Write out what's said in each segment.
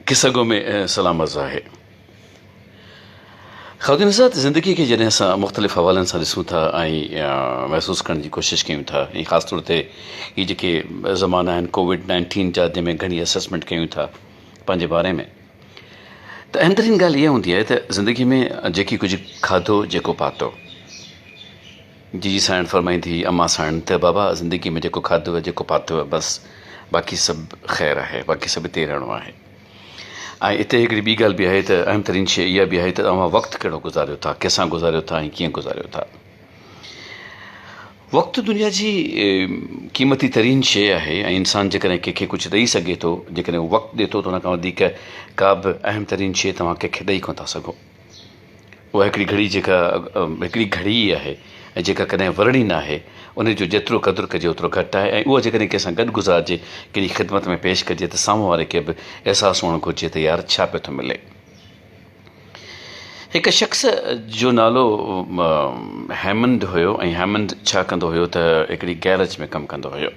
قصه گو ۾ سلام عرض آهي. خادم صاحب زندگي کي جڏهن اسان مختلف حوالن سان ڏسون ٿا ۽ محسوس ڪرڻ جي ڪوشش ڪيون ٿا ۽ خاص طور تي هي جيڪي زمانا آهن ڪووڊ نائنٽين جا جنهن ۾ گهڻي اسيسمينٽ ڪيون ٿا پنهنجي باري ۾ ته اهم ترين ڳالهه اها هوندي آهي ته زندگي ۾ جيڪي ڪجهه کاڌو جيڪو پاتو جي جي سائڻ فرمائين ٿي امان سائڻ ته بابا زندگي ۾ جيڪو کاڌو آهي جيڪو پاتو آهي بس باقي سڀ خير آهي باقي سڀ هتي رهڻو آهي ۽ هتي هڪڙي ٻي ڳالهه به آهي ته اهم ترين شيء اها به آهي ته اوهان وقت ڪهڙو گذاريو ٿا ڪنهن سان گذاريو ٿا ۽ ڪيئن گذاريو ٿا وقت دنيا جي قيمتي ترين شيء آهي ۽ انسان جيڪڏهن ڪنهن کي ڪجهه ڏئي سگهي ٿو جيڪڏهن هو وقت ڏي ٿو ته ان کان وڌيڪ ڪا به اهم ترين شيء توهان ڪنهن کي ڏئي ڪونه ٿا سگهو اها هڪڙي گهڙي جيڪا هڪڙي گهڙي ئي آهي ۽ جيڪا ڪڏهن ورڻي نه آهي، ان جو جيترو قدر ڪجي اوترو گهٽ آهي ۽ اها جيڪڏهن ڪنهن سان گڏ گذارجي، ڪنهن جي خدمت ۾ پيش ڪجي ته سامهون واري کي به احساس هئڻ گهرجي ته يار ڇا پيو ٿو ملي. هڪ شخص جو نالو هيمنڊ هيو ۽ هيمنڊ ڇا ڪندو هيو ته هڪڙي گيرج ۾ ڪم ڪندو هيو.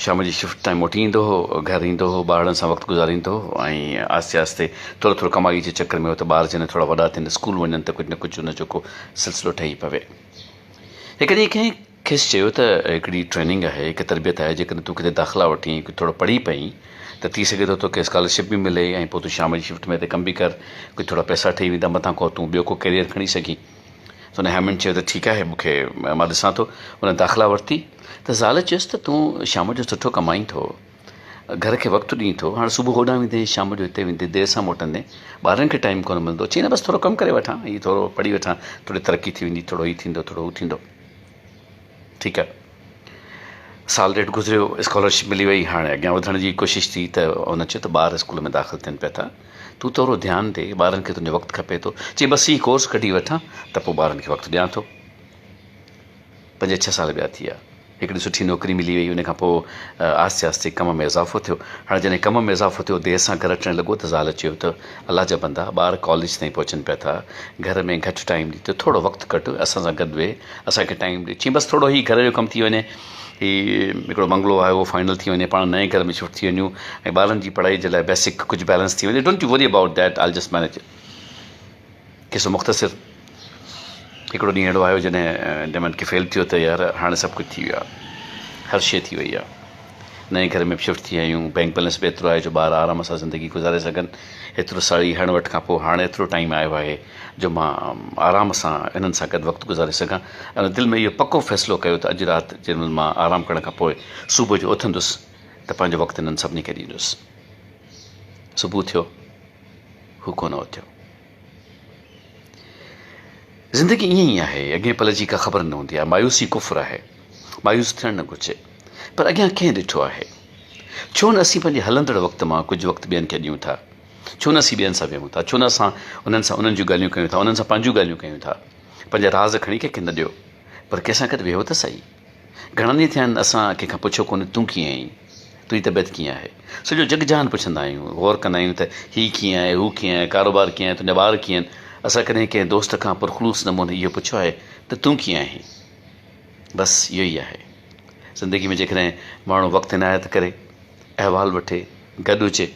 شام جي شفٽ تائين موٽي ايندو هو، گهر ايندو هو، ٻارڙن سان وقت گذاريندو هو ۽ آهستي آهستي ٿورو ٿورو ڪمائيء جي چڪر ۾ هو ته ٻار جڏهن ٿورا وڏا ٿين، اسڪول وڃن ته ڪجهه نه ڪجهه ان جو ڪو سلسلو ٺهي پوي. هڪ ڏينهن ڪنهن کيس چيو ته هڪڙي ٽريننگ آهي، هڪ تربيت آهي، جيڪڏهن تون ڪٿي داخلا وٺين ۽ ڪجهه ٿورو پڙهي پئين ته ٿي سگهي ٿو توکي اسڪالرشپ به ملي ۽ پوء تون شام جي شفٽ ۾ هتي ڪم به ڪر، ڪجهه ٿورا پئسا ٺهي ويندا، مٿان کان تون ٻيو ڪو ڪيريئر کڻي سگهين. سو هن هيمنڊ چيو ته ٺيڪ آهي مون کي مان ڏسان ٿو. هن داخلا ورتي. ته زال چيس ته تون شام جو سٺو ڪمائين ٿو، گهر کي وقت ڏئين ٿو، هاڻ صبح هوڏانهن ويندين، شام جو هتي ويندين، دير سان موٽندين، ٻارن کي ٽائيم ڪونه ملندو. چيائين نه بس ٿورو ڪم ڪري وٺان، هي ٿورو پڙهي وٺان، ٿوري ترقي ٿي ويندي، ٿورو هي ٿيندو، ٿورو هو ٿيندو. ٺيڪ آهي. سال ڏيڍ گذريو، اسڪالرشپ ملي وئي، هاڻ اڳيان وڌڻ جي ڪوشش ٿي ته هن چيو ته ٻار اسڪول ۾ داخل ٿين پيا ٿا، تون ٿورو ڌيان ڏي، ٻارن کي تنهنجو وقت کپي ٿو. چيائين بس هي ڪورس ڪڍي وٺان ته پوء ٻارن کي وقت ڏيان ٿو. پنج ڇهه سال ٻيا ٿي ويا. هڪڙي سٺي نوڪري ملي وئي. ان کان پوء آهستي آهستي ڪم ۾ اضافو ٿيو. هاڻي جڏهن ڪم ۾ اضافو ٿيو، دير سان گهر اچڻ لڳو ته زال چيو ته الله جا بندا، ٻار ڪاليج تائين پهچن پيا ٿا. گهر ۾ گهٽ ٽائيم ڏي ته ٿورو وقت ڪڍ، اسان سان گڏ ويهه، اسان کي ٽائيم ڏي. چيم بس ٿورو هي گهر جو ڪم ٿي وڃي. هي هڪڙو بنگلو آهي، اهو فائنل ٿي وڃي. پاڻ نئين گهر ۾ شفٽ ٿي وڃون ۽ ٻارن جي پڙهائي جي لاء بيسڪ ڪجهه بيلنس ٿي وڃي. Don't you worry about that, I'll just manage it. قصو مختصر، هڪڙو ڏينهن اهڙو آيو جڏهن ڊيمنڊ کي فيل ٿيو ته يار هاڻي سڀ ڪجهه ٿي ويو آهي هر شيء ٿي وئي آهي نئين گهر ۾ شفٽ ٿي آهيون بينڪ بيلنس به ايترو آهي جو ٻار آرام سان زندگي گذاري سگهن ايترو ساڙي هڻ وٺ کان پوء هاڻي ايترو ٽائيم آيو آهي جو مان آرام سان انهن سان گڏ وقت گذاري سگهان ۽ دل ۾ اهو پڪو فيصلو ڪيو ته اڄ رات جنهن مهل مان آرام ڪرڻ کان پوء صبح جو اٿندس ته پنهنجو وقت انهن سڀني کي ڏيندس صبح ٿيو هو ڪونه اٿيو. زندگي ائين ئي آهي، اڳئين پل جي ڪا خبر نه هوندي آهي. مايوسي ڪفر آهي. مايوس ٿيڻ نه گهرجي. پر اڳيان ڪنهن ڏٺو آهي؟ ڇو نه اسين پنهنجي هلندڙ وقت مان ڪجهه وقت ٻين کي ڏيون ٿا؟ ڇو نه اسين ٻين سان ويهون ٿا؟ ڇو نه اسان انهن سان انهن جون ڳالهيون ڪيون ٿا، انهن سان پنهنجون ڳالهيون ڪيون ٿا؟ پنهنجا راز کڻي ڪنهن کي نه ڏيو، پر ڪنهن سان گڏ ويهو ته سهي. گهڻا ڏينهن ٿيا آهن اسان ڪنهن کان پڇيو ڪونهي تون ڪيئن آهين؟ تنهنجي طبيعت ڪيئن آهي؟ سڄو جڳ جهان پڇندا آهيون، غور ڪندا آهيون ته هي ڪيئن آهي، هو ڪيئن آهي، ڪاروبار ڪيئن آهي، تنهنجا ٻار ڪيئن آهن؟ اسان ڪڏهن ڪنهن دوست کان پرخلوص نموني اهو پڇيو آهي ته تون ڪيئن آهين؟ بس اهو ئي آهي زندگي ۾ جيڪڏهن ماڻهو وقت عنايت ڪري، احوال وٺي، گڏ هجي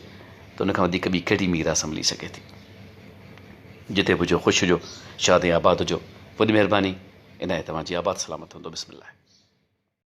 ته ان کان وڌيڪ ٻي ڪهڙي ميراث ملي سگهي ٿي؟ جتي به هجو خوش هجو شاد ۽ آباد هجو وڏي مهرباني الهي توهان جي آباد سلامت هوندو بسم الله.